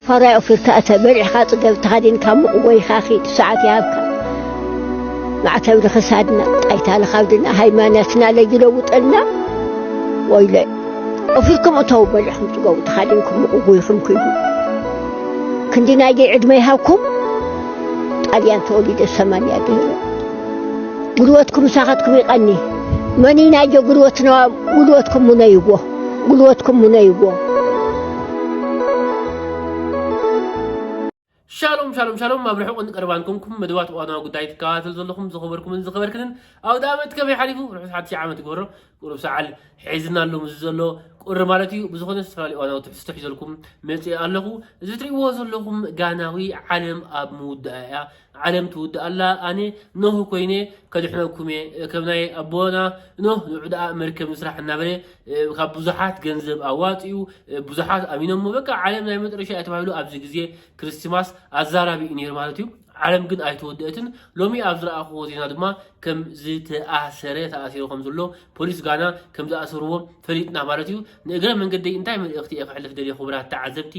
ፋራይ ኦፊርካ እተ በሪሕካ ጽገብ ተኻዲንካ ሙቕ ወይኻ ኺድ ሰዓት ይሃብካ ማዕተብ ንኽሳድና ጣይታ ንኻብድና ሃይማኖትና ለይለውጠልና ወይለ ኦፊርኩም እተው በሪሕኩም ጽገቡ ተኻዲንኩም ሙቕ ጎይኹም ክይዱ ክንዲ ናይ ደይ ዕድመ ይሃብኩም ጣልያን ተወሊደ ሰማንያ ድህረ ጉልበትኩም ሳኻትኩም ይቐኒ መኒ ናይ ጆ ጉልበትና ጉልበትኩም ሙነይዎ ጉልበትኩም ምነይዎ። ሻሎም ሻሎም ሻሎም ኣብ ርሑቕን ቀረባን ኮንኩም መደባት እዋናዊ ጉዳይ ትከታተሉ ዘለኹም ዝኸበርኩምን ዝኸበርክንን ኣውደ ዓመት ከመይ ሓሊፉ ርሑስ ሓድሽ ዓመት ይግበሮ ቁሩብ ሰዓል ሒዝና ኣሎ ምስ ዘሎ ቁሪ ማለት እዩ ብዝኾነ ዝተፈላለዩ እዋናዊ ትሕዝቶ ሒዘልኩም መፅእ ኣለኹ እዚ ትሪእዎ ዘለኹም ጋናዊ ዓለም ኣብ ምውዳእ እያ ዓለም ትውድእ ኣላ ኣነ ኖህ ኮይነ ከድሕነኩም እየ ከም ናይ ኣቦና ኖህ ንዑዳኣ መርከብ ንስራሕ እናበለ ካብ ብዙሓት ገንዘብ ኣዋፂኡ ብዙሓት ኣሚኖሞ በቃ ዓለም ናይ መጠረሻ እያ ተባሂሉ ኣብዚ ግዜ ክርስቲማስ ኣዛራቢ እዩ ነይሩ ማለት እዩ ዓለም ግን ኣይተወደአትን ሎሚ ኣብ ዝረኣኹዎ ዜና ድማ ከም ዝተኣሰረ ተኣሲሩ ከም ዘሎ ፖሊስ ጋና ከም ዝኣሰርዎ ፈሊጥና ማለት እዩ ንእግረ መንገደይ እንታይ መልእኽቲ እየ ክሕልፍ ደልየ ክቡራት ተዓዘብቲ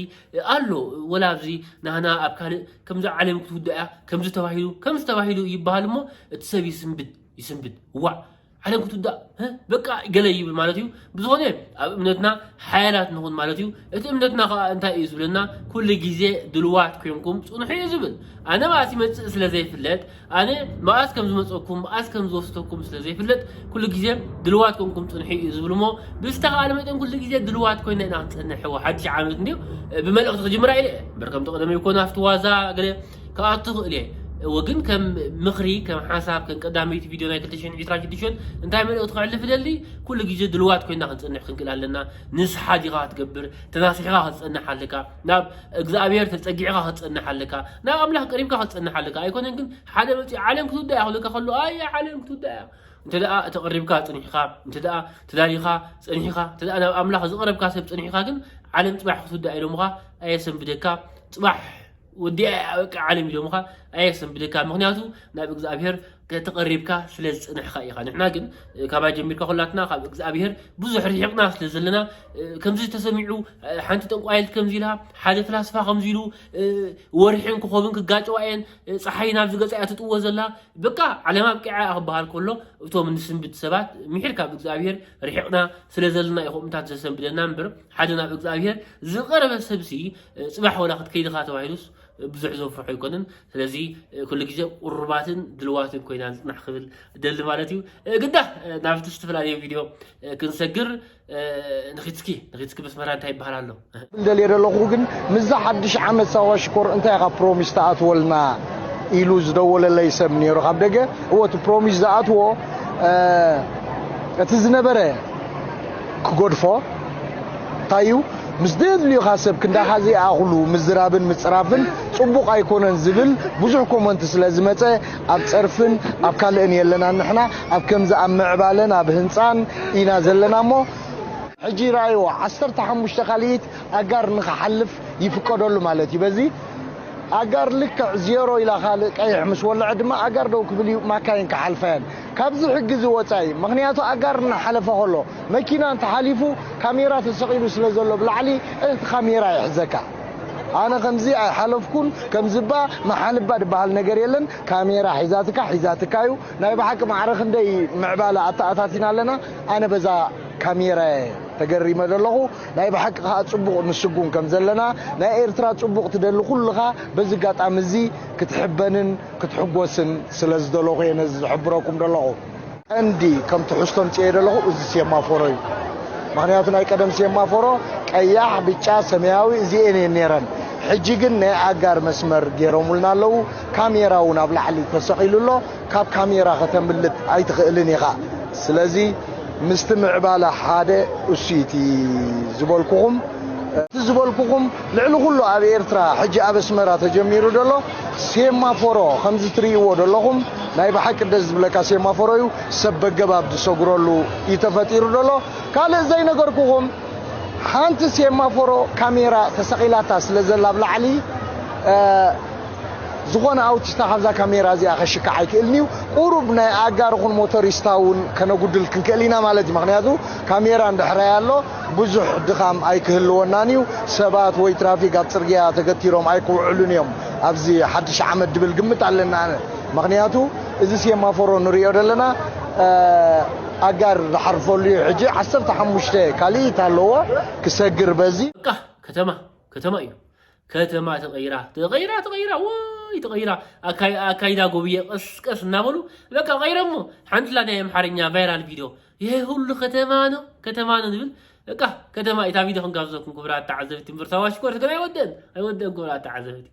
ኣሎ ወላ ኣብዚ ናህና ኣብ ካልእ ከምዚ ዓለም ክትውዳእ እያ ከምዚ ተባሂሉ ከምዚ ተባሂሉ ይበሃል እሞ እቲ ሰብ ይስንብድ ይስንብድ ዋዕ ዓለም ክትውዳእ እ፣ በቃ ገለ ይብል ማለት እዩ ብዝኾነ ኣብ እምነትና ሓያላት ንኹን ማለት እዩ እቲ እምነትና ከዓ እንታይ እዩ ዝብለና ኩሉ ግዜ ድልዋት ኮንኩም ፅንሑ እዩ ዝብል ኣነ ማለት ይመፅእ ስለ ዘይፍለጥ ኣነ መኣስ ከም ዝመጸኩም መኣስ ከም ዝወስደኩም ስለ ዘይፍለጥ ኩሉ ግዜ ድልዋት ኮንኩም ጽንሑ እዩ ዝብል እሞ ብዝተኻእለ መጠን ኩሉ ግዜ ድልዋት ኮይና ኢና ክንጸንሕ እዎ ሓድሽ ዓመት እንድዩ ብመልእኽቲ ክጅምራ ኢለ እምበር ከምቲ ቀደመይ ኮነ ኣብቲ ዋዛ ገለ ክኣቱ ክእል እየ እዎ ግን ከም ምኽሪ ከም ሓሳብ ከም ቀዳመይቲ ቪድዮ ናይ 2026 እንታይ መልእኽቲ ክዕልፍ ደሊ ኩሉ ግዜ ድልዋት ኮይና ክንጸንሕ ክንክእል ኣለና ንስሓ ዲኻ ክትገብር ተናሲሕኻ ክትጸንሕ ኣለካ ናብ እግዚኣብሔር ተጸጊዕካ ክትጸንሕ ኣለካ ናብ ኣምላኽ ቀሪብካ ክትጸንሕ ኣለካ ኣይኮነን ግን ሓደ መጽኡ ዓለም ክትውዳእ እያ ክብለካ ከሎ ኣየ ዓለም ክትውዳእ እያ እንተ ደኣ ተቐሪብካ ጽኒሕካ እንተ ደኣ ተዳሊኻ ጽኒሕካ እንተ ደኣ ናብ ኣምላኽ ዝቐረብካ ሰብ ጽኒሕካ ግን ዓለም ጽባሕ ክትውዳእ ኢሎምኻ ኣየሰንብደካ ጽባሕ ወዲኣ እያ በቃ ዓለም ኢሎምኻ ኣየሰንብደካ ምክንያቱ ናብ እግዚኣብሔር ተቐሪብካ ስለ ዝጽንሕካ ኢኻ ንሕና ግን ካባይ ጀሚርካ ኩላትና ካብ እግዚኣብሄር ብዙሕ ርሒቕና ስለ ዘለና ከምዚ ተሰሚዑ ሓንቲ ጠንቋይልት ከምዚ ኢላ ሓደ ፍላስፋ ከምዚ ኢሉ ወርሒን ክኾብን ክጋጨዋ እየን ፀሓይ ናብ ዝገፃ እያ ትጥዎ ዘላ በቃ ዓለም ኣብቂዓ እያ ክበሃል ከሎ እቶም ንስንብት ሰባት ምሒር ካብ እግዚኣብሄር ርሒቕና ስለ ዘለና እዩ ከምኡታት ዘሰንብደና እምበር ሓደ ናብ እግዚኣብሄር ዝቐረበ ሰብሲ ፅባሕ ወላ ክትከይድኻ ተባሂሉስ ብዙሕ ዘፍርሖ ኣይኮንን ስለዚ ኩሉ ግዜ ቁሩባትን ድልዋትን ኮይና ንፅናሕ ክብል ደሊ ማለት እዩ ግዳ ናብቲ ዝተፈላለዩ ቪድዮ ክንሰግር ንኪትኪ ንኪትኪ መስመራ እንታይ ይበሃል ኣሎ ደልየ ደለኹ ግን ምዛ ሓድሽ ዓመት ሳዋ ሽኮር እንታይ ኢኻ ፕሮሚስ ተኣትወልና ኢሉ ዝደወለለይ ሰብ ነይሩ ካብ ደገ እወ እቲ ፕሮሚስ ዝኣትዎ እቲ ዝነበረ ክገድፎ ታዩ ምስ ደድልዩካ ሰብ ክንዳኻ ዘይኣኽሉ ምዝራብን ምጽራፍን ጽቡቕ ኣይኮነን ዝብል ብዙሕ ኮመንት ስለ ዝመጸ ኣብ ጸርፍን ኣብ ካልእን የለናን ንሕና ኣብ ከምዚ ኣብ ምዕባለን ኣብ ህንጻን ኢና ዘለና እሞ ሕጂ ረኣይዎ ዓሰርተ ሓሙሽተ ካልኢት ኣጋር ንኽሓልፍ ይፍቀደሉ ማለት እዩ በዚ ኣጋር ልክዕ ዜሮ ኢላ ካልእ ቀይሕ ምስ ወለዐ ድማ ኣጋር ደው ክብል እዩ ማካይን ክሓልፋ እየን። ካብዚ ሕጊ እዚ ወጻኢ ምኽንያቱ ኣጋር እናሓለፈ ከሎ መኪና እንተሓሊፉ ካሜራ ተሰቒሉ ስለ ዘሎ ብላዕሊ እቲ ካሜራ ይሕዘካ ኣነ ከምዚ ኣይሓለፍኩን ከምዚባ ምሓልባ ድበሃል ነገር የለን ካሜራ ሒዛትካ ሒዛትካ እዩ ናይ ብሓቂ ማዕረ ክንደይ ምዕባለ ኣተኣታቲና ኣለና ኣነ በዛ ካሜራየ ተገሪመ ዘለኹ ናይ ብሓቂ ከኣ ጽቡቕ ንስጉም ከም ዘለና ናይ ኤርትራ ጽቡቕ ትደሊ ኩልኻ በዚ ኣጋጣሚ እዚ ክትሕበንን ክትሕጎስን ስለ ዝደለኹ እየ ነዚ ዝሕብረኩም ደለኹ። ቀንዲ ከም ትሕዝቶ ኣምጺኤዮ ደለኹ እዚ ሴማፎሮ እዩ። ምኽንያቱ ናይ ቀደም ሴማፎሮ ቀያሕ፣ ብጫ፣ ሰማያዊ እዚኤን እየን ነይረን። ሕጂ ግን ናይ ኣጋር መስመር ገይሮሙልና ኣለዉ። ካሜራ እውን ኣብ ላዕሊ ተሰቒሉ ኣሎ። ካብ ካሜራ ከተምልጥ ኣይትኽእልን ኢኻ። ስለዚ ምስቲ ምዕባለ ሓደ እሱ እዩ እቲ ዝበልኩኹም። እቲ ዝበልኩኹም ልዕሊ ኩሉ ኣብ ኤርትራ ሕጂ ኣብ ኣስመራ ተጀሚሩ ደሎ ሴማፎሮ ከምዚ ትርእይዎ ደለኹም ናይ ብሓቂ ደስ ዝብለካ ሴማፎሮ እዩ ሰብ በገባብ ዝሰግረሉ እዩ ተፈጢሩ ደሎ ካልእ ዘይነገርኩኹም ሓንቲ ሴማፎሮ ካሜራ ተሰቒላታ ስለ ዘላ ኣብ ላዕሊ ዝኾነ ኣውቲስታ ካብዛ ካሜራ እዚኣ ከሽካዕ ኣይክእልን እዩ ቁሩብ ናይ ኣጋር ኹን ሞቶሪስታ እውን ከነጉድል ክንክእል ኢና ማለት እዩ ምክንያቱ ካሜራ እንድሕራይ ኣሎ ብዙሕ ድኻም ኣይክህልወናን እዩ። ሰባት ወይ ትራፊክ ኣብ ጽርግያ ተገቲሮም ኣይክውዕሉን እዮም ኣብዚ ሓድሽ ዓመት ድብል ግምት ኣለኒ ኣነ። ምኽንያቱ እዚ ሴማፎሮ ንርእዮ ደለና ኣጋር ዝሓርፈሉ እዩ ሕጂ ዓሰርተ ሓሙሽተ ካልኢት ኣለዎ ክሰግር በዚ። በቃ ከተማ ከተማ እዩ። ከተማ ተቐይራ ተቐይራ ተቐይራ ወይ ተቐይራ ኣካይ- ኣካይዳ ጎብየ ቀስ ቀስ እናበሉ በቃ ቀይረሞ ሓንቲ ላናይ ኣምሓርኛ ቫይራል ቪድዮ ይሄ ሁሉ ከተማ ነው ከተማ ነው ዝብል እቃ ከተማ ኢታ ቪድዮ ክንጋብዘኩም ክብራት ተዓዘብቲ ምርታ ዋሽኮርት ግን ኣይወደን ኣይወደን ክብራት ተዓዘብቲ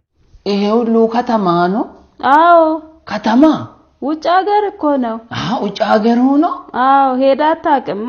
ይሄ ሁሉ ከተማ ነው አዎ ከተማ ውጭ ሀገር እኮ ነው ውጭ ሀገር ሆኖ አዎ ሄዳ አታውቅማ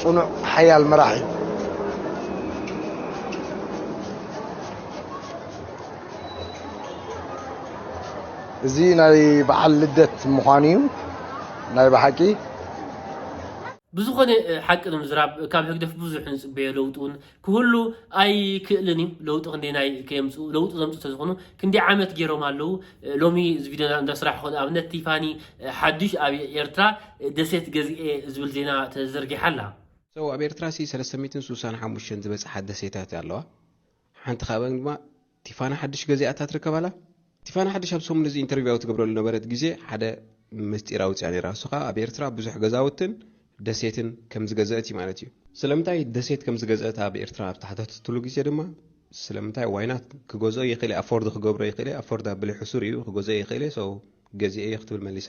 ፅኑዕ ሓያል መራሒ እዩ። እዚ ናይ በዓል ልደት ምዃኑ እዩ ናይ ብሓቂ ብዝኾነ ሓቂ ንምዝራብ ካብ ህግደፍ ብዙሕ ንጽበዮ ለውጢ ውን ክህሉ ኣይክእልን እዩ ለውጢ ክንደናይ ከየምፅኡ ለውጢ ዘምፅኡ ተዝኾኑ ክንዲ ዓመት ገይሮም ኣለዉ ሎሚ እዚ ቪድዮ እንዳ ስራሕ ኮ ኣብነት ቲፋኒ ሓዱሽ ኣብ ኤርትራ ደሴት ገዝኤ ዝብል ዜና ተዘርጊሓ ኣላ So ኣብ ኤርትራ ሲ ሰለስተ ሚእትን ስሳን ሓሙሽተን ዝበጽሓ ደሴታት ኣለዋ ሓንቲ ካብኣን ድማ ቲፋኒ ሓድሽ ገዚኣ እታ ትርከብ ኣላ። ቲፋኒ ሓድሽ ኣብ ሰሙን እዚ ኢንተርቪው ኣብ ትገብረሉ ነበረት ግዜ ሓደ ምስጢር ኣውጺኣ ኔራ እሱ ከኣ ኣብ ኤርትራ ብዙሕ ገዛውትን ደሴትን ከም ዝገዘእት እዩ ማለት እዩ። ስለምንታይ ደሴት ከም ዝገዘእት ኣብ ኤርትራ ኣብ ተሓተተትሉ ግዜ ድማ ስለምንታይ ዋይ ናት ክገዝኦ ይክእል እየ ኣፎርድ ክገብሮ ይክእል እየ ኣፎርድ ኣብለይ ሕሱር እዩ ክገዝኦ ይክእል እየ so ገዚኤ እየ ክትብል መሊሳ።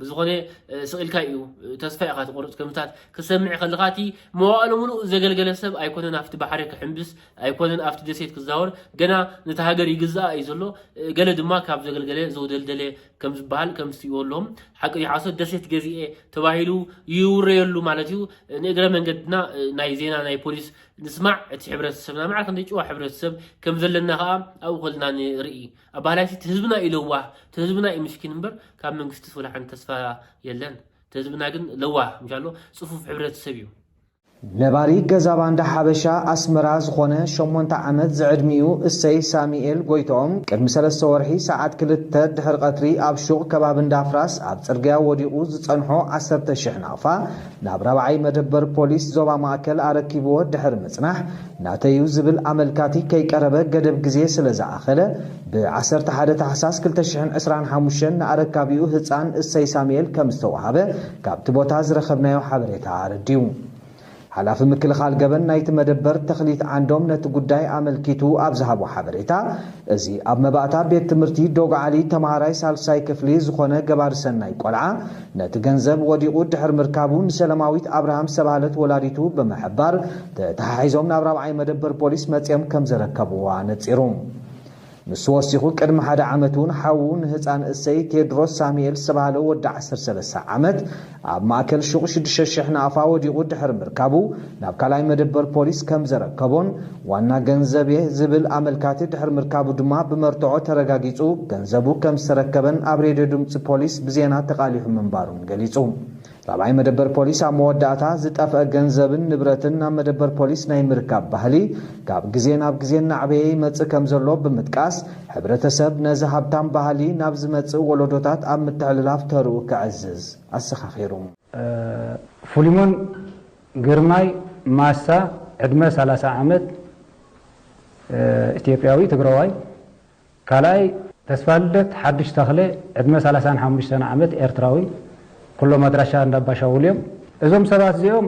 ብዝኾነ ስቕ ኢልካ እዩ ተስፋ ኢኻ ትቆርፅ ከምታት ክሰምዕ ከለኻ እቲ መዋእሎ ምሉእ ዘገልገለ ሰብ ኣይኮነን ኣብቲ ባሕሪ ክሕምብስ ኣይኮነን ኣብቲ ደሴት ክዛወር ገና ነቲ ሃገር ይግዛኣ እዩ ዘሎ ገለ ድማ ካብ ዘገልገለ ዘውደልደለ ከም ዝበሃል ከም ዝትእወሎም ሓቂ ሓሶት ደሴት ገዚኤ ተባሂሉ ይውረየሉ ማለት እዩ ንእግረ መንገድና ናይ ዜና ናይ ፖሊስ ንስማዕ እቲ ሕብረተሰብና ማዕረ ክንደይ ጭዋ ሕብረተሰብ ከም ዘለና ከዓ ኣብኡ ከልና ንርኢ ኣባላይሲ ትህዝብና እዩ ለዋህ ትህዝብና እዩ ምስኪን እምበር ካብ መንግስቲ ወላ ሓንቲ ተስፋ የለን ትህዝብና ግን ለዋህ ምሻሎ ጽፉፍ ሕብረተሰብ እዩ ነባሪ ገዛ ባንዳ ሓበሻ ኣስመራ ዝኾነ ሸሞንተ ዓመት ዝዕድሚኡ እሰይ ሳሚኤል ጎይትኦም ቅድሚ ሰለስተ ወርሒ ሰዓት ክልተ ድሕሪ ቀትሪ ኣብ ሹቕ ከባቢ እንዳፍራስ ኣብ ጽርግያ ወዲቑ ዝጸንሖ ዓሰርተ ሽሕ ናቕፋ ናብ ራብዓይ መደበር ፖሊስ ዞባ ማእከል ኣረኪብዎ ድሕሪ ምጽናሕ፣ ናተይ'ዩ ዝብል ኣመልካቲ ከይቀረበ ገደብ ግዜ ስለ ዝኣኸለ፣ ብ ዓሰርተ ሓደ ታሕሳስ ክልተ ሽሕን ዕስራን ሓሙሽተን ንኣረካቢኡ ህጻን እሰይ ሳሙኤል ከም ዝተወሃበ ካብቲ ቦታ ዝረኸብናዮ ሓበሬታ ኣረዲኡ። ሓላፊ ምክልኻል ገበን ናይቲ መደበር ተኽሊት ዓንዶም ነቲ ጉዳይ ኣመልኪቱ ኣብ ዝሃቦ ሓበሬታ፣ እዚ ኣብ መባእታ ቤት ትምህርቲ ዶግዓሊ ተመሃራይ ሳልሳይ ክፍሊ ዝኾነ ገባሪ ሰናይ ቆልዓ፣ ነቲ ገንዘብ ወዲቑ ድሕሪ ምርካቡ ንሰለማዊት ኣብርሃም ዝተባህለት ወላዲቱ ብምሕባር ተተሓሒዞም ናብ ራብዓይ መደበር ፖሊስ መጺኦም ከም ዘረከብዋ ኣነጺሩ። ንሱ ወሲኹ ቅድሚ ሓደ ዓመት'ውን ሓዉ ንህጻን እሰይ ቴድሮስ ሳሙኤል ዝተባህለ ወዲ ዓሰርተ ሰለስተ ዓመት ኣብ ማእከል ሹቕ ሽዱሽተ ሽሕ ናቕፋ ወዲቑ ድሕሪ ምርካቡ ናብ ካልኣይ መደበር ፖሊስ ከም ዘረከቦን ዋና ገንዘብ'የ ዝብል ኣመልካቲ ድሕሪ ምርካቡ ድማ ብመርትዖ ተረጋጊጹ ገንዘቡ ከም ዝተረከበን ኣብ ሬድዮ ድምጺ ፖሊስ ብዜና ተቓሊሑ ምንባሩን ገሊጹ። ራብዓይ መደበር ፖሊስ ኣብ መወዳእታ ዝጠፍአ ገንዘብን ንብረትን ናብ መደበር ፖሊስ ናይ ምርካብ ባህሊ ካብ ግዜ ናብ ግዜ እናዕበየ ይመጽእ ከም ዘሎ ብምጥቃስ ሕብረተሰብ ነዚ ሃብታም ባህሊ ናብ ዝመጽእ ወለዶታት ኣብ ምትሕልላፍ ተርኡ ከዕዝዝ ኣዘኻኺሩ። ፍሊሞን ግርማይ ማሳ ዕድመ ሰላሳ ዓመት ኢትዮጵያዊ ትግራዋይ ካልኣይ። ተስፋልደት ሓዱሽ ተኽለ ዕድመ ሰላሳን ሓሙሽተን ዓመት ኤርትራዊ ኩሎም ኣድራሻ እንዳ ኣባሻውል እዮም። እዞም ሰባት እዚኦም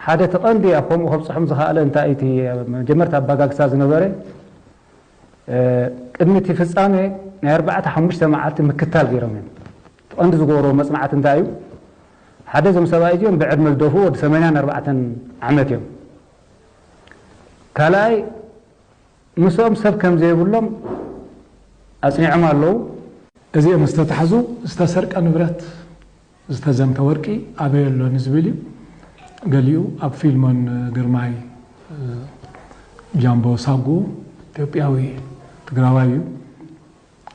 ሓደ እቲ ቀንዲ ኣብ ከምኡ ከብጽሖም ዝኸኣለ እንታይ እቲ መጀመርታ ኣባጋግሳ ዝነበረ ቅድሚ እቲ ፍጻመ ናይ ኣርባዕተ ሓሙሽተ መዓልቲ ምክታል ገይሮም እዮም። እቲ ቀንዲ ዝገበሮ መጽናዕቲ እንታይ እዩ? ሓደ እዞም ሰብኣይ እዚኦም ብዕድመ ዝደፍኡ ወዲ ሰማንያን ኣርባዕተን ዓመት እዮም። ካልኣይ ምስኦም ሰብ ከም ዘይብሎም ኣጽኒዖም ኣለዉ። እዚኦም ምስ ተታሕዙ ዝተሰርቀ ንብረት፣ ዝተዘምተ ወርቂ ኣበይ ኣሎ ንዝብል እዩ። ገሊኡ ኣብ ፊልሞን ግርማይ፣ ጃምቦ ሳጉኡ፣ ኢትዮጵያዊ ትግራዋይ እዩ።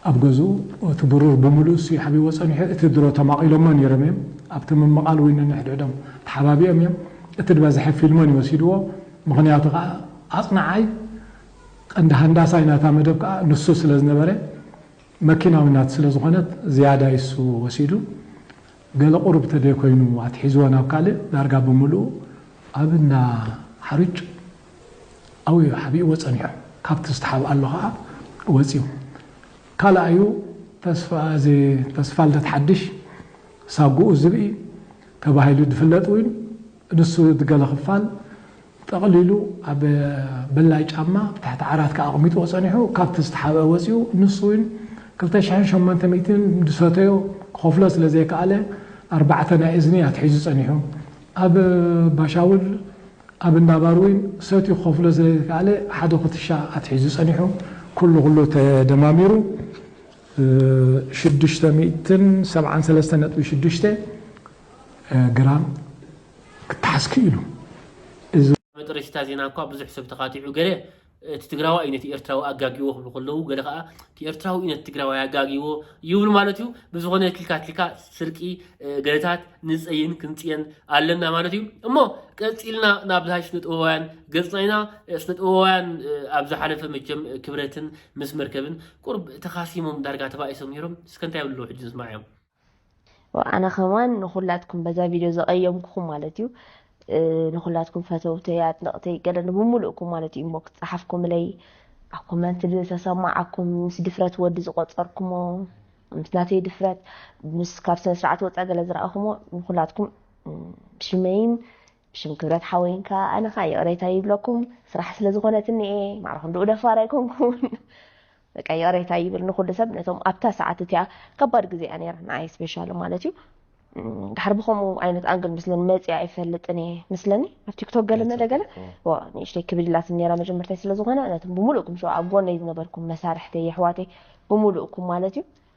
ኣብ ገዝኡ እቲ ብሩር ብምሉእሱ ይሓብዎ ጸኒሑ እቲ ድሮ ተማቒሎሞ ኔሮም እዮም ኣብቲ ምምቓል ውን ነንሕድሕዶም ተሓባቢኦም እዮም እቲ ድበዝሐ ፊልሞን እዩ ወሲድዎ ምኽንያቱ ከኣ ኣጽናዓይ ቀንዲ ሃንዳሳይ ናታ መደብ ከኣ ንሱ ስለዝነበረ መኪና ውን ናቱ ስለዝኾነት ዝያዳይ እሱ ወሲዱ ገለ ቁሩብ ተደይ ኮይኑ ኣትሒዝዎ ናብ ካልእ ዳርጋ ብምልኡ ኣብ እንዳ ሓሩጭ ኣውዩ ሓቢእዎ ጸኒሑ። ካብቲ ዝተሓብኣሉ ከኣ ወጺኡ። ካልኣዩ ተስፋኣዚ ተስፋልደት ሓድሽ፣ ሳጉኡ ዝብኢ፣ ተባሂሉ ድፍለጥ ውን ንሱ ድገለ ክፋል ጠቕሊሉ ኣብ ብላይ ጫማ ኣብ ትሕቲ ዓራት ከኣ ኣቕሚጥዎ ጸኒሑ ካብቲ ዝተሓብኣ ወጺኡ ንሱ ውን ክልተ ሽሕን ሸሞንተ ሚእትን ዝሰተዮ ክኸፍሎ ስለ ዘይከኣለ ኣርባዕተ ናይ እዝኒ ኣትሒዙ ጸኒሑ ኣብ ባሻውል ኣብ እንዳ ባር ውን ሰትዩ ክኸፍሎ ስለ ዘይከኣለ ሓደ ኩትሻ ኣትሒዙ ጸኒሑ ኩሉ ኩሉ ተደማሚሩ ሽዱሽተ ሚእትን ሰብዓን ሰለስተን ነጥቢ ሽዱሽተ ግራም ክተሓዝ ክኢሉ እዚ። መጠረሽታ ዜና እኳ ብዙሕ ሰብ ተካቲዑ ገለ እቲ ትግራዋይ እዩ ነቲ ኤርትራዊ ኣጋጊዎ ክብሉ ከለዉ ገለ ከኣ እቲ ኤርትራዊ እዩ ነቲ ትግራዋይ ኣጋጊዎ ይብሉ ማለት እዩ ብዝኾነ ትልካ ትልካ ስርቂ ገለታት ንጸይን ክንጽየን ኣለና ማለት እዩ እሞ ቀጺልና ናብ ዝሃይ ስነ ጥበባውያን ገጽና ኢና ስነ ጥበባውያን ኣብ ዝሓለፈ መቸም ክብረትን ምስ መርከብን ቁርብ ተኻሲሞም ዳርጋ ተባኢሶም ነይሮም እስከ እንታይ ይብሉ ሕጂ ንስማዕ እዮም ኣነ ከማን ንኩላትኩም በዛ ቪድዮ ዘቀየምኩኹም ማለት እዩ ንኩላትኩም ፈተውተይ ኣድነቕተይ ገለ ንብምሉእኩም ማለት እዩ እሞ ክፀሓፍኩምለይ ኣብ ኮመንት ዝተሰማዓኩም ምስ ድፍረት ወዲ ዝቆፀርኩሞ ምስ ናተይ ድፍረት ምስ ካብ ስነ ስርዓት ወፃ ገለ ዝረኣኹሞ ንኩላትኩም ብሽመይን ብሽም ክብረት ሓወይን ከዓ ኣነ ከዓ ይቕሬታ ይብለኩም ስራሕ ስለ ዝኾነትኒ እየ ማዕረኹም ድኡ ደፋር ኣይኮንኩን በቃ ይቕሬታ ይብል ንኹሉ ሰብ ነቶም ኣብታ ሰዓት እቲኣ ከባድ ግዜ እያ ነይራ ንዓይ ስፔሻሊ ማለት እዩ ድሓር ብከምኡ ዓይነት ኣንግል ምስለን መፅያ ኣይፈልጥን እየ ምስለኒ ኣብ ቲክቶክ ገለ መለ ገለ ንእሽተይ ክብድ ኢላትኒ ነራ መጀመርታይ ስለዝኾነ ነቶም ብምሉእኩም ሸ ኣብ ጎነይ ዝነበርኩም መሳርሕተይ የሕዋተይ ብምሉእኩም ማለት እዩ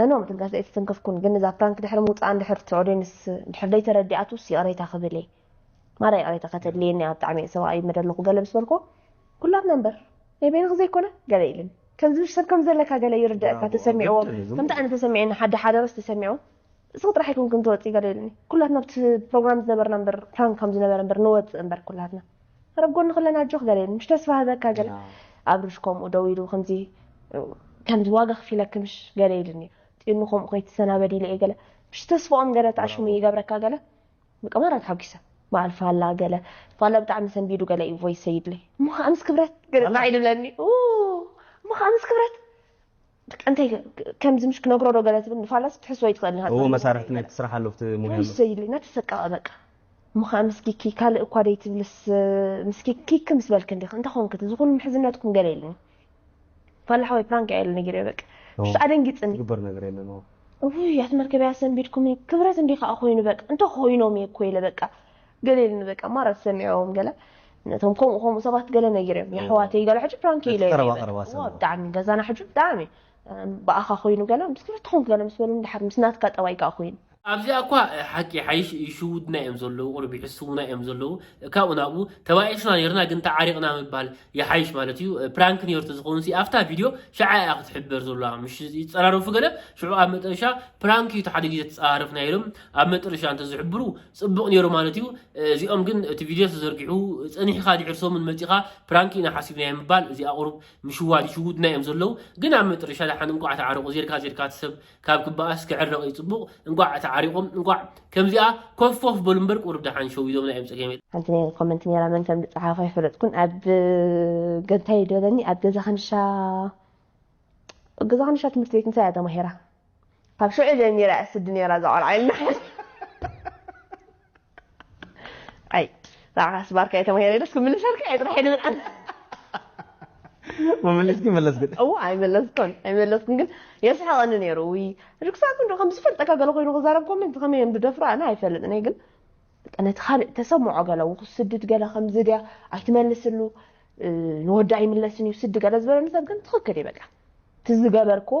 ነኖ ምትንካፈ ኣይተተንከፍኩን ግን እዛ ፕራንክ ድሕሪ ምውጻኣ እንድሕር እቲ ኦድየንስ እንድሕር ዘይተረዲኣቱስ ይቕሬታ ክብል እየ ማራ ይቕሬታ ከተድልየኒ እያ ብጣዕሚ እየ ሰብኣይ ይመደ ኣለኹ ገለ ምስ በልኩዎ ኩላትና እምበር ናይ በይንኺ ዘይኮነ ገለ ኢልኒ ከምዚ ብሽ ሰብ ከም ዘለካ ገለ ይርደኣካ ተሰሚዕዎ ከምቲ ኣነ ተሰሚዑኒ ሓደ ሓደ ረስ ተሰሚዑ እስኺ ጥራሕ ኣይኮንክን ትወጺ ገለ ኢልኒ ኩላትና ኣብቲ ፕሮግራም ዝነበርና እምበር ፕራንክ ከም ዝነበረ እምበር ንወጽእ እምበር ኩላትና ኣረ ብ ጎንኺ ኣለና ኣጆኺ ገለ ምሽ ተስፋ ህበካ ገለ ኣብርሽ ከምኡ ደው ኢሉ ከምዚ ከምዚ ዋጋ ክፊለኪ ምሽ ገለ ኢሉኒ ጢኑ ከምኡ ከይትሰናበዲ ኢለ እየ ገለ ምሽ ተስፋኦም ገለ ተዓሽሙ ይገብረካ ገለ በቃ ማራ ተሓጒሰ በዓል ፋላ ገለ ፋላ ብጣዕሚ ሰንቢዱ ገለ እዩ ቮይስ ሰይድለይ እሞ ከዓ ምስ ክብረት ገለ ጣዕ ኢሉ ብለኒ እሞ ከዓ ምስ ክብረት በቃ እንታይ ከምዚ ምሽ ክነግሮ ዶ ገለ ትብል ንፋላስ ክትሕስቦ ይትኽእል ንኸ እዎ መሳርሕቲ ናይ ትስራሕ ኣሎ ብቲ ሙያ ኣሎ ወይሰ ኢሉ እናተሰቀቐ በቃ እሞ ከዓ ምስ ኪኪ ካልእ እኳ ደይትብልስ ምስ ኪኪ ኪኪ ምስ በልክ እንዲኽ እንታይ ኾንክ እዚ ኹሉ ምሕዝነትኩም ገለ ኢሉኒ ፋላ ሓወይ ፕራንክ እያ ኢሉ ነጊረዮ በቃ እዎ ብስ ኣደንጊፅኒ ዝግበር ነገር የለን እዎ እውይ ኣቲ መርከበይ ኣሰንቢድኩምኒ ክብረት እንዲዩ ከዓ ኾይኑ በቃ እንተኾይኖም እየ እኮ ኢለ በቃ ገለ ኢልኒ በቃ ማራ ትሰሚዕዎም ገለ ነቶም ከምኡ ከምኡ ሰባት ገለ ነጊረዮም የሕዋተይ ገለ ሕጂ ፕራንክ እዩ ኢለዮም ቀረባ ቀረባ እየ ሰባት ብጣዕሚ ገዛና ሕጂ ብጣዕሚ ብኣኻ ኮይኑ ገለ ምስ ክልተኹም ገለ ምስ በሉኒ ድሓር ምስ ናትካ ጠባይ ከኣ ኮይኑ ኣብዚኣ እኳ ሓቂ ይሓይሽ ይሽውዱና እዮም ዘለዉ ቁሩብ ይሕስዉና እዮም ዘለዉ ካብኡ ናብኡ ተባኢስና ኔርና ግን ተዓሪቕና ምባል ይሓይሽ ማለት እዩ ፕራንክ ኔሩ ተዝኸውንሲ ኣብታ ቪድዮ ሽዓ እያ ክትሕበር ዘለዋ ምሽ ይጸራረፉ ገለ ሽዑ ኣብ መጠረሻ ፕራንክ እዩ እቲ ሓደ ግዜ ተጸራረፍና ኢሎም ኣብ መጥርሻ እንተ ዝሕብሩ ጽቡቅ ኔሩ ማለት እዩ እዚኦም ግን እቲ ቪድዮ ተዘርጊሑ ጸኒሕኻ ድሕሪ ሰሙን መጺኻ ፕራንክ ኢና ሓሲብናዮ ምባል እዚኣ ቁሩብ ምሽዋድ ይሽውዱና እዮም ዘለዉ ግን ኣብ መጥርሻ ደሓን እንቋዕ ተዓረቁ ዜርካ ዜርካ እቲ ሰብ ካብ ክበኣስ ክዕረቅ እዩ ጽቡቅ እንቋዕ ተዓሪቆም እንቋዕ ከምዚኣ ኮፍ ፎፍ በሉ እምበር ቁሩብ ደሓን ሸዊዶምና እዮም ጸገም የለን። ሓንቲ ናይ ኮመንት ኔራ መን ከም ዝጸሓፎ ኣይፈለጥኩን ኣብ ገንታይ ደለኒ ኣብ ገዛ ከንሻ ገዛ ከንሻ ትምህርቲ ቤት እንታይ እያ ተማሂራ ካብ ሽዑ ጀሚረ እያ ስዲ ኔራ እዛ ቆልዓ ኢልና ሓዚና ኣይ ንዓኻስ ባርካይ ተማሂረ ኢለስ ክምልሰልካ እየ ጥራሕ ኢሉ ምንዓም መመሊስኪ መለስክን እዎ ኣይመለስኩን ኣይመለስኩን ግን የስሕቐኒ ነይሩ ውይ ርክሳት እንዶ ከም ዝፈልጠካ ገለ ኮይኑ ክዛረብ ኮመንት ከመይ እዮም ዝደፍሩ ኣነ ኣይፈልጥን እየ ግን ነቲ ካልእ ተሰምዖ ገለ ውኩስ ስድድ ገለ ከምዚ ድያ ኣይትመልስሉ ንወዲ ኣይምለስን እዩ ስዲ ገለ ዝበለኒ ሰብ ግን ትኽክል እዩ በቃ እቲ ዝገበርክዎ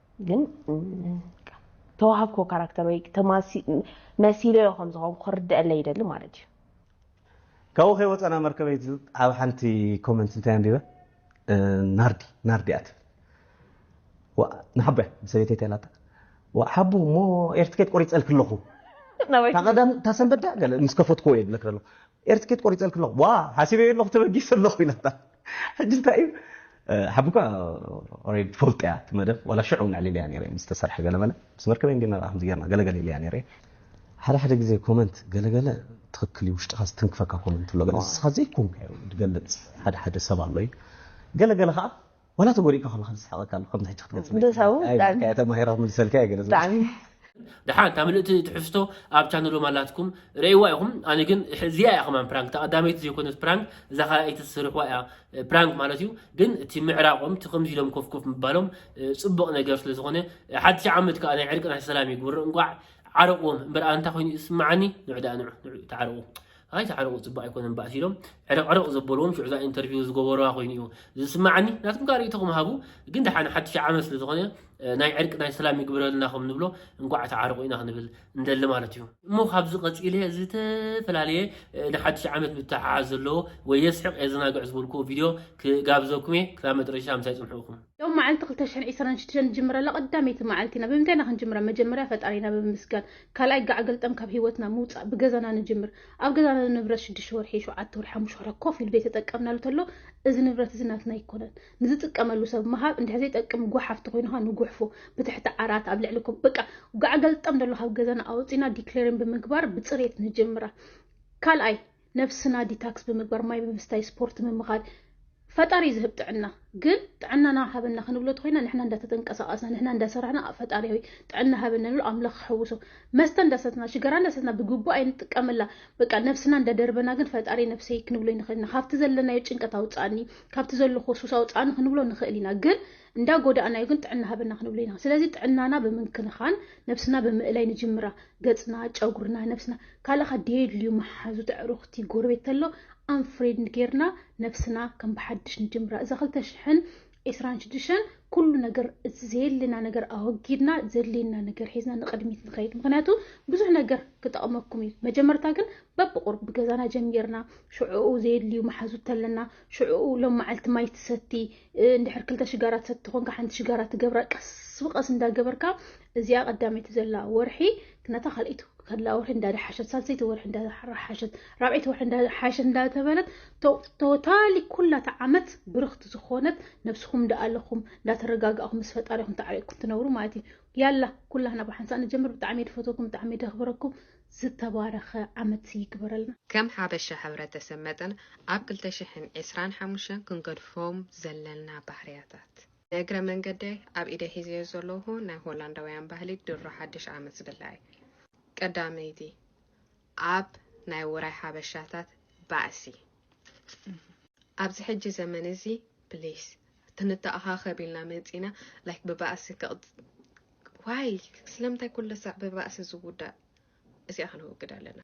ግን ተዋህብኮ ካራክተር ወይ መሲለዮ ከም ዝኾንኩ ክርደአለይ ይደሊ ማለት እዩ ካብኡ ከይወፀና መርከበይ ኣብ ሓንቲ ኮመንት እንታይ ኣንቢበ ናርዲ ናርዲ እያ ትብል ንሓቦ እያ ሰበይተይ ተላታ ሓቦ እሞ ኤርትኬት ቆሪፀልክ ኣለኹ ታቀዳም ታሰንበዳ ምስ ከፈትክዎ እየ ዝብለክ ዘለኹ ኤሪ ትኬት ቆሪጸልኪ ኣለኹ ዋእ ሓሲበዮ ኣለኹ ተበጊሰ ኣለኹ ኢላታ ሕጂ እንታይ እዩ ሓቢ እኳ ኦሬዲ ትፈልጦ እያ እቲ መደብ ዋላ ሽዑ እውን ኣዕሊለያ ነይረ ምስ ተሰርሐ ገለመለ ምስ መርከበይ እንዲና ከምዚ ጌርና ገለ ገለ ኢለያ ነይረ ሓደ ሓደ ግዜ ኮመንት ገለ ገለ ትኽክል እዩ ውሽጥኻ ዝትንክፈካ ኮመንት ኣሎ ገለ ንስኻ ዘይኮንካዮ ዝገልጽ ሓደ ሓደ ሰብ ኣሎ እዩ ገለ ገለ ከኣ ዋላ ተጎዲእካ ከለካ ዘስሕቀካ ኣሎ ከምዚ ሕጂ ክትገልጽለይ ዶ ሳቡ ኣይ ብጣዕሚ ብልካያ ተማሂረ ክምልሰልካ እየ ገለ ዝብል ብጣዕሚ ደሓን እታ ምልእቲ ትሕዝቶ ኣብ ቻነሎም ኣላትኩም ረእይዋ ኢኹም ኣነ ግን እዚኣ እያ ከማን ፕራንክ እታ ቀዳመይቲ ዘይኮነት ፕራንክ እዛ ካልኣይቲ ዝሰርሕዋ እያ ፕራንክ ማለት እዩ ግን እቲ ምዕራቆም እቲ ከምዚ ኢሎም ኮፍ ኮፍ ምባሎም ጽቡቕ ነገር ስለ ዝኾነ ሓድሽ ዓመት ከኣ ናይ ዕርቂ ናይ ሰላም ይግብሮ እንቋዕ ዓረቕዎም እምበር ኣንታ ኮይኑ ይስምዓኒ ንዑ ደኣ ንዑ ንዑ ተዓረቑ ኣይትዓርቑ ፅቡቕ ኣይኮነን ባእሲ ኢሎም ዕርቕርቕ ዘበልዎም ሽዑ እዛ ኢንተርቪው ዝገበሩዋ ኮይኑ እዩ ዝስማዓኒ ናትኩም ካእ ርእይቶኹም ሃቡ ግን ደሓን ሓድሽ ዓመት ስለ ዝኾነ ናይ ዕርቂ ናይ ሰላም ይግብረልና ከም ንብሎ እንቋዕ ተዓርቑ ኢና ክንብል እንደሊ ማለት እዩ እሞ ካብዚ ቀፂለ ዝተፈላለየ ንሓድሽ ዓመት ብተሓሓዝ ዘለዎ ወይ የስሕቕ የዘናግዕ ዝበልኩዎ ቪድዮ ክጋብዘኩም እየ ክሳብ መጨረሻ ምሳይ ፅንሑኹም ሎም መዓልቲ 226 ንጅምረላ ቀዳመይቲ መዓልቲ ኢና ብምንታይ ኢና ክንጅምራ መጀመርያ ፈጣሪና ብምምስጋን ካልኣይ ጋዕ ገልጠም ካብ ሂወትና ምውጻእ ብገዛና ንጅምር ኣብ ገዛና ንብረት ሽዱሽተ ወርሒ ሸውዓተ ወርሒ ሓሙሽተ ወርሒ ኮፍ ኢሉ ዘይተጠቀምናሉ ተሎ እዚ ንብረት እዚ ናትና ኣይኮነን ንዝጥቀመሉ ሰብ ምሃብ እንድሕር ዘይጠቅም ጓሓፍ ተኮይኑካ ንጉሕፎ ብትሕቲ ዓራት ኣብ ልዕሊ ኮ በቃ ጋዕ ገልጠም ደሎ ካብ ገዛና ኣውጺና ዲክሌርን ብምግባር ብጽሬት ንጅምራ ካልኣይ ነብስና ዲታክስ ብምግባር ማይ ብምስታይ ስፖርት ምምኻር ፈጣሪ ዝህብ ጥዕና ግን ጥዕናና ሃበና ክንብሎ ተኮይና ንሕና እንዳተተንቀሳቀስና ንሕና እንዳሰራሕና ፈጣሪ ጥዕና ሃበና ንብሎ ኣምላኽ ክሕውሶ መስተ እንዳሰትና ሽገራ እንዳሰትና ብግቡእ ኣይንጥቀመላ በቃ ነብስና እንዳደርበና ግን ፈጣሪ ነብሰይ ክንብሎ ይንኽእል ኢና ካብቲ ዘለናዮ ጭንቀት ኣውፃእኒ ካብቲ ዘለኩ ሱስ ኣውፃእኒ ክንብሎ ንኽእል ኢና ግን እንዳ ጎዳእናዮ ግን ጥዕና ሃበና ክንብሎ ኢና ስለዚ ጥዕናና ብምንክንኻን ነብስና ብምእላይ ንጅምራ ገጽና ጨጉርና ነብስና ካልእኻ ደየድልዩ መሓዙት ኣዕሩኽቲ ጎረቤት ተሎ ኣንፍሬንድ ጌርና ነብስና ከም ብሓድሽ ንጅምራ እዛ ክልተ ሽሕን ዒስራን ሽዱሽተን ኩሉ ነገር እቲ ዘየለና ነገር ኣወጊድና ዘድልየና ነገር ሒዝና ንቕድሚት ንኸይድ ምክንያቱ ብዙሕ ነገር ክጠቕመኩም እዩ መጀመርታ ግን በብቑርብ ብገዛና ጀሚርና ሽዕኡ ዘየድልዩ መሓዙት ተለና ሽዕኡ ሎም መዓልቲ ማይ ትሰቲ እንድሕር ክልተ ሽጋራ ትሰቲ ኮንካ ሓንቲ ሽጋራ ትገብራ ቀስ ብቀስ እንዳገበርካ እዚኣ ቀዳመይቲ ዘላ ወርሒ ነታ ካልኣይቲ ከላ ወርሒ እንዳደሓሸት ሳልሰይቲ ወርሒ እንዳሓሸት ራብዐይቲ ወርሒ እንዳሓሸት እንዳተበለት ቶታሊ ኩላታ ዓመት ብርክቲ ዝኾነት ነብስኹም እንዳኣለኹም እንዳተረጋጋእኹም ምስ ፈጣሪኹም ተዓሪቅኩም ትነብሩ ማለት እዩ ያላ ኩላህና ብሓንሳእ ንጀምር ብጣዕሚ ድፈተኩም ብጣዕሚ ደኽብረኩም ዝተባረኸ ዓመት ይግበረልና። ከም ሓበሻ ሕብረተሰብ መጠን ኣብ ክልተ ሽሕን ዕስራን ሓሙሽተን ክንገድፎም ዘለና ባህርያታት። ንእግረ መንገደይ ኣብ ኢደይ ሒዘዮ ዘለኹ ናይ ሆላንዳውያን ባህሊ ድሮ ሓድሽ ዓመት ዝብላዕ እዩ። ቀዳመይቲ ኣብ ናይ ውራይ ሓበሻታት ባእሲ። ኣብዚ ሕጂ ዘመን እዚ please ተንተኣኻኸብ ኢልና መጺና like ብባእሲ ዋይ ስለምንታይ ኩለሳዕ ብባእሲ ዝውዳእ እዚኣ ክንወግድ ኣለና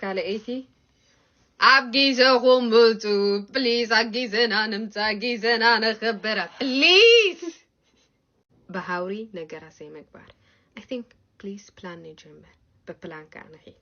ካልኣይቲ ኣብ ጊዘኹም ምፁ ፕሊዝ ኣብ ጊዘና ንምፃ ጊዘና ነኽብራ ፕሊዝ ብሃውሪ ነገራት ዘይምግባር ኣይ ቲንክ ፕሊዝ ፕላን ንጀምር ብፕላን ከዓ ንኺድ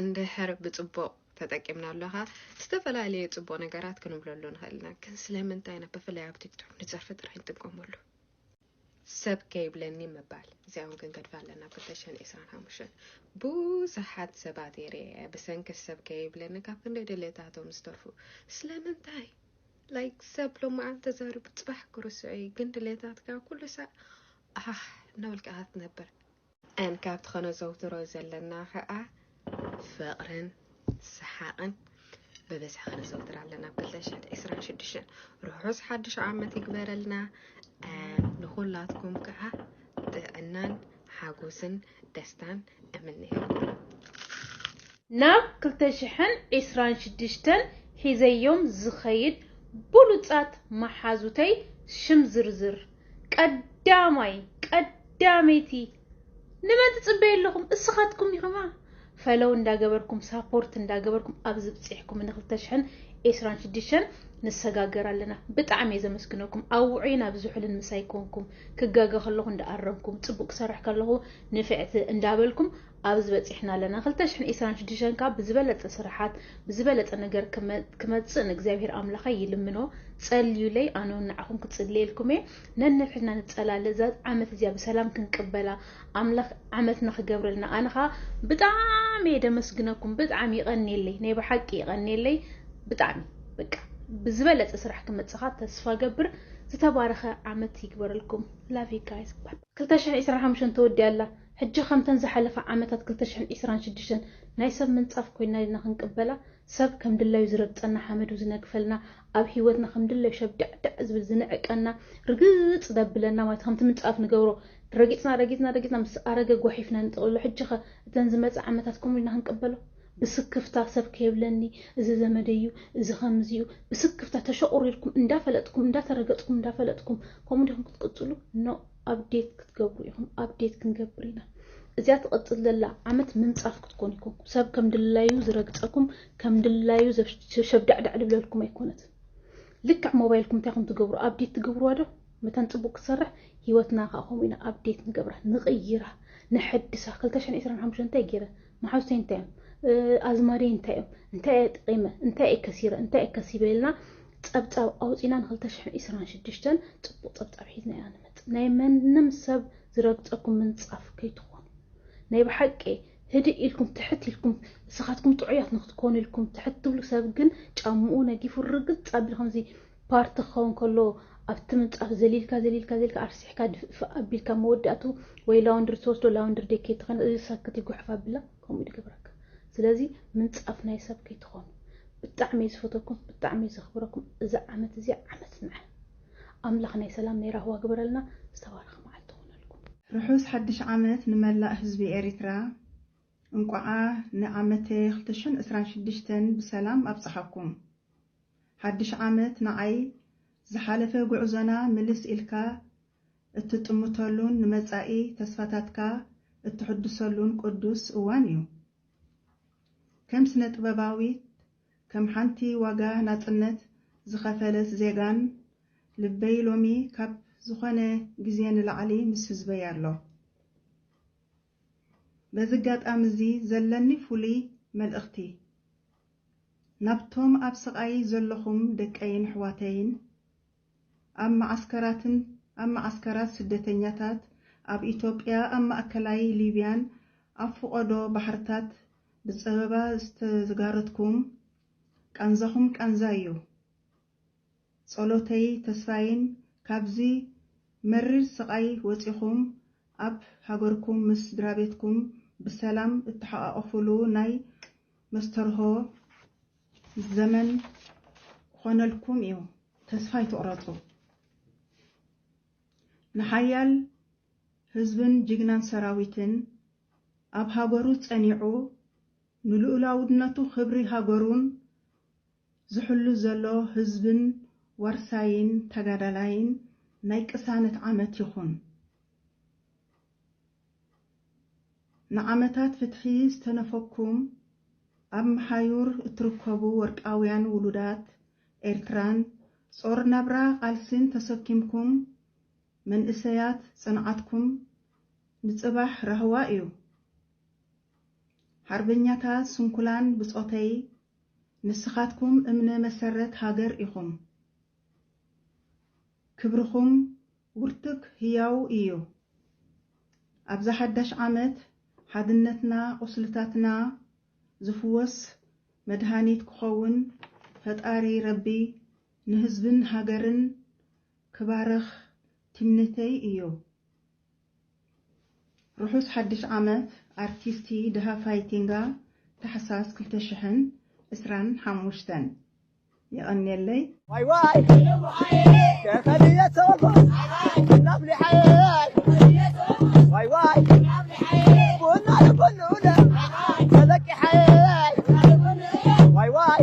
እንድሕር ብጽቡቕ ተጠቂምናሉ ከኣ ዝተፈላለየ ጽቡቕ ነገራት ክንብለሉ ንኽእል ኢና። ግን ስለምንታይ ኢና ብፍላይ ኣብ ቲክቶክ ንጸርፊ ጥራይ ንጥቀመሉ? ሰብ ከይብለኒ ምባል እዚኣ እውን ክንገድፋ ኣለና። ብተሸን ዕስራን ሓሙሽተን ብዙሓት ሰባት የርእየ ብሰንኪ ሰብ ከይብለኒ ካብ ክንደይ ድሌታቶም ዝተርፉ ስለምንታይ ላይክ ሰብ ሎማዓን ተዛሪቡ ጽባሕ ክርስዑ እዩ። ግን ድሌታትካ ኩሉ ሳዕ ኣሕ እናበልካ ክትነብር ኣን ካብቲ ከነዘውትሮ ዘለና ከኣ ፍቕርን ሰሓቕን ብብዝሒ ከነዘውትር ኣለና ብ ክልተ ሽሕን ዕስራን ሽዱሽተን ርሑስ ሓድሽ ዓመት ይግበረልና ኣን ንኹላትኩም ከኣ ጥዕናን ሓጎስን ደስታን እምነየልኩም ናብ ክልተ ሽሕን ዕስራን ሽዱሽተን ሒዘዮም ዝኸይድ ብሉጻት መሓዙተይ ሽም ዝርዝር ቀዳማይ ቀዳመይቲ ንመን ትጽበዩ ኣለኹም እስኻትኩም ኢኹማ ፈለው እንዳገበርኩም ሳፖርት እንዳገበርኩም ኣብዚ ብፂሕኩም ንክልተ ሽሕን ኤስራን ሽዱሽተን ንሰጋገር ኣለና ብጣዕሚ እየ ዘመስግነኩም ኣውዑይ ናብ ዝሑልን ምሳይ ኮንኩም ክጋገ ከለኹ እንዳኣረምኩም ፅቡቅ ክሰርሕ ከለኹ ንፍዕቲ እንዳበልኩም ኣብዚ በጺሕና ኣለና ክልተ ሽሕን ዒስራን ሽዱሽተን ከኣ ብዝበለጸ ስርሓት ብዝበለጸ ነገር ክመጽእ ንእግዚኣብሄር ኣምላኸይ ይልምኖ ጸልዩለይ ኣነውን ንዓኹም ክጽልየልኩም እየ ነንሕድሕድና ንጸላለ እዛ ዓመት እዚኣ ብሰላም ክንቅበላ ኣምላኽ ዓመትና ክገብረልና ኣነ ከኣ ብጣዕሚ እየ ደመስግነኩም ብጣዕሚ ይቐንየለይ ናይ ብሓቂ ይቐንየለይ ብጣዕሚ በቃ ብዝበለጸ ስራሕ ክመጽኻ ተስፋ ገብር ዝተባረኸ ዓመት ይግበረልኩም ላቭ ዩ ጋይስ ክልተ ሽሕን ዒስራን ሓሙሽተን ተወዲኣ ኣላ ሕጂ ከምተን ዝሓለፋ ዓመታት ክልተ ሽሕን ዕስራን ሽዱሽተን ናይ ሰብ ምንጻፍ ኮይና ዲና ክንቅበላ? ሰብ ከም ድላዩ ዝረግጸና ሓመዱ ዝነግፈልና ኣብ ሂወትና ከም ድላዩ ሸብዳዕዳዕ ዝብል ዝንዕቀና ርግጽ ዘብለና ማለት ከምቲ ምንጻፍ ንገብሮ ረጊጽና ረጊጽና ረጊጽና ምስ ኣረገ ጓሒፍና ንጥቅልሎ ሕጂኸ እተን ዝመጻ ዓመታት ከምኡ ዲና ክንቅበሎ? ብስክፍታ ሰብ ከይብለኒ እዚ ዘመደይ እዩ እዚ ከምዚ እዩ ብስክፍታ ተሸቁሪርኩም እንዳፈለጥኩም እንዳተረገጽኩም እንዳፈለጥኩም ከምኡ ዲኹም ክትቅጽሉ? ኖእ! ኣብዴት ክትገብሩ ኢኹም ኣብዴት ክንገብር ኢና እዚኣ ትቕፅል ዘላ ዓመት ምንፃፍ ክትኮን ኢኩም ሰብ ከም ድላዩ ዝረግፀኩም ከም ድላዩ ሸብዳዕዳዕ ዝብለልኩም ኣይኮነትን ልክዕ ሞባይልኩም እንታይ ኹም ትገብሩ ኣብዴት ትገብርዋ ዶ መተን ፅቡቅ ክትሰርሕ ሂወትና ከዓ ከምኡ ኢና ኣብዴት ንገብራ ንቕይራ ነሐድሳ 225 እንታይ ገይረ መሓዙተይ እንታይ እዮም? ኣዝማደይ እንታይ እዮም? እንታይ እየ ጠቒመ? እንታይ እየ ከሲረ? እንታይ እየ ከሲበ? ኢልና ጸብጻብ ኣውጺና ን ክልተ ሽሕን ዒስራን ሽዱሽተን ጽቡቕ ጸብጻብ ሒዝና ኢና ንመጽእ። ናይ መንም ሰብ ዝረግጸኩም ምንጻፍ ከይትኾኑ። ናይ ብሓቂ ህድእ ኢልኩም ትሕት ኢልኩም ንስኻትኩም ጥዑያት ንክትኮኑ ኢልኩም ትሕት ትብሉ ሰብ ግን ጫምኡ ነጊፉ ርግጽ ኣቢሉ ከምዚ ፓርቲ ክኸውን ከሎ ኣብቲ ምንጻፍ ዘሊልካ ዘሊልካ ዘሊልካ ኣርሲሕካ ድፍእፍእ ኣቢልካ ኣብ መወዳእትኡ ወይ ላውንድሪ ትወስዶ ላውንድሪ ደይ ከይትኾን እዚ ሳክት ይጉሕፍ ኣብላ ከምኡ ድገብረካ ስለዚ ምንጻፍ ናይ ሰብ ከይትኾኑ ብጣዕሚ እዩ ዝፈተኩም ብጣዕሚ እዩ ዘኽብረኩም እዛ ዓመት እዚ ዓመት ንዐ ኣምላኽ ናይ ሰላም ናይ ራህዋ ግበረልና ዝተባረኸ መዓልቲ ይኹነልኩም። ርሑስ ሓድሽ ዓመት ንመላእ ህዝቢ ኤሪትራ እንቋዓ ንዓመተ ክልተ ሽሕን ዕስራን ሽዱሽተን ብሰላም ኣብጽሓኩም። ሓድሽ ዓመት ንዓይ ዝሓለፈ ጉዕዞና ምልስ ኢልካ እትጥምተሉን ንመጻኢ ተስፋታትካ እትሕድሰሉን ቅዱስ እዋን እዩ። ከም ስነ-ጥበባዊት፣ ከም ሓንቲ ዋጋ ናጽነት ዝኸፈለት ዜጋን ልበይ ሎሚ ካብ ዝኾነ ግዜ ንላዕሊ ምስ ህዝበይ ኣሎ። በዚ ኣጋጣሚ እዚ ዘለኒ ፍሉይ መልእኽቲ ናብቶም ኣብ ስቓይ ዘለኹም ደቀይን ኣሕዋተይን ኣብ መዓስከራትን ኣብ መዓስከራት ስደተኛታት ኣብ ኢትዮጵያ ኣብ ማእከላይ ሊብያን ኣብ ፍቖዶ ባሕርታት ብጸበባ ዝተጋረትኩም ቃንዛኹም ቃንዛይ እዩ ጸሎተይ ተስፋይን ካብዚ መሪር ስቃይ ወጺኹም ኣብ ሃገርኩም ምስ ስድራቤትኩም ብሰላም እትሓቃቆፉሉ ናይ መስተርሆ ዘመን ክኾነልኩም እዩ ተስፋ ኣይትቁረጹ ንሓያል ህዝብን ጅግናን ሰራዊትን ኣብ ሃገሩ ጸኒዑ ንሉኡላውድነቱ ክብሪ ሃገሩን ዝሕሉ ዘሎ ህዝብን ዋርሳይን ተጋዳላይን ናይ ቅሳነት ዓመት ይኹን። ንዓመታት ፍትሒ ዝተነፈኩም ኣብ መሓዩር እትርከቡ ወርቃውያን ውሉዳት ኤርትራን ጾር ናብራ ቃልሲን ተሰኪምኩም መንእሰያት ጽንዓትኩም ንጽባሕ ራህዋ እዩ። ሓርበኛታት ስንኩላን ብጾተይ ንስኻትኩም እምነ መሰረት ሃገር ኢኹም ክብርኹም ውርትግ ህያው ኢዩ ኣብዛ ሓዳሽ ዓመት ሓድነትና ቁስልታትና ዝፍወስ መድሃኒት ክኸውን ፈጣሪ ረቢ ንህዝብን ሃገርን ክባርኽ ትምኒተይ ኢዩ። ርሑስ ሓድሽ ዓመት ኣርቲስቲ ደሃፋይ ቲንጋ ታሕሳስ ክልተ ሽሕን ዕስራን ሓሙሽተን። የቐንየለይ። ዋይ ዋይ ከከልየ ተወኩስ ናፍሊሓየይ ዋይ ዋይ ቡና ልቡን ንኡለ ተበቂሓየይ ዋይ ዋይ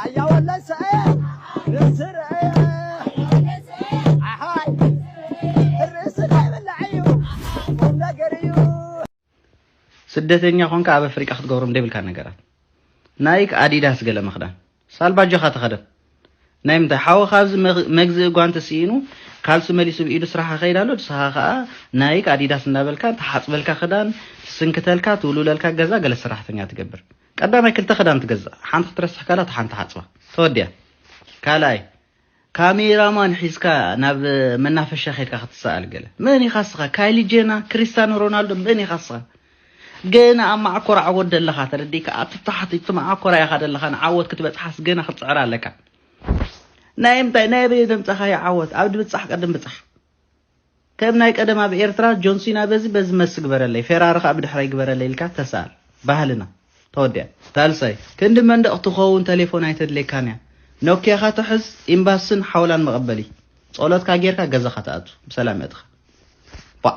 ኣያ ወለድ ሰአየው ርእሲ ረአየ ኣሓይ ርእሲ ከይብላዕ እዩ ቁም ነገር እዩ ስደተኛ ኮንካ ኣብ ኣፍሪቃ ክትገብሮም ደብልካ ነገራት ናይክ ኣዲዳስ ገለ ምክዳን ሳልባጆካ ተኸደን ናይ ምንታይ ሓወ ካብዚ መግዝእ ጓንቲ ስኢኑ ካልሲ መሊሱ ብኢዱ ስራሓ ከይድ ኣሎ ንስኻ ከዓ ናይክ ኣዲዳስ እናበልካ ተሓፅበልካ ክዳን ትስንክተልካ ትውልውለልካ ገዛ ገለ ሰራሕተኛ ትገብር ቀዳማይ ክልተ ክዳን ትገዝእ ሓንቲ ክትረስሕ ከላ እታ ሓንቲ ሓጽባ ተወዲኣ ካልኣይ ካሜራ ማን ሒዝካ ናብ መናፈሻ ከድካ ክትሰኣል ገለ መን ኢኻ ስኻ ካይሊ ጄና ክሪስታኖ ሮናልዶ መን ኢኻ ስኻ ገና ኣብ ማዓኮር ዓወት ደለኻ ተረዲካ ኣብቲ ታሕቲ እቲ ማዓኮራ ኢኻ ደለኻ ንዓወት ክትበጽሓስ ገና ክትጽዕር ኣለካ ናይ ምንታይ ናይ በየ ዘምጻኻዮ ዓወት ኣብ ድብጻሕ ቅድም ብጻሕ ከም ናይ ቀደም ኣብ ኤርትራ ጆንሲና በዚ በዚ መስ ግበረለይ ፌራሪ ከኣ ብድሕረይ ግበረለይ ኢልካ ተሳኣል ባህልና ተወዲኣ። ሳልሳይ፣ ክንዲ መንደቕ ትኸውን ተሌፎን ኣይተድልየካን እያ። ኖክያኻ ተሕዝ፣ ኢምባስን ሓውላን መቐበሊ። ጸሎትካ ጌርካ ገዛኻ ትኣቱ። ብሰላም የእትኻ። ቧእ።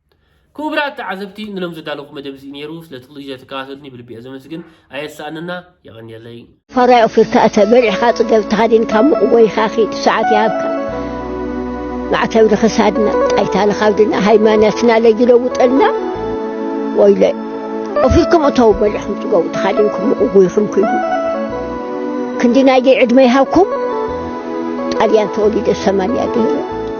ክቡራት ተዓዘብቲ ንሎም ዘዳለኹ መደብ እዚ ነይሩ ስለቲ ኩሉ ግዜ ትከታተሉኒ ብልቢ እየ ዘመስግን ኣየሳእነና የቐንየለይ። ፋራይ ኦፊርካ እተ በሊዕካ ጽገብ ተሃዲንካ ሙቕ ጎይካ ኪድ ሰዓት ይሃብካ ማዕተብ ንክሳድና ጣይታ ንካብድና ሃይማኖትና ለይለውጠልና ወይለ ኦፊርኩም እተው በሊዕኩም ጽገቡ ተሃዲንኩም ሙቕ ጎይኩም ኪዱ ክንዲ ናይደይ ዕድመ ይሃብኩም ጣልያን ተወሊደ ሰማንያ ገይረ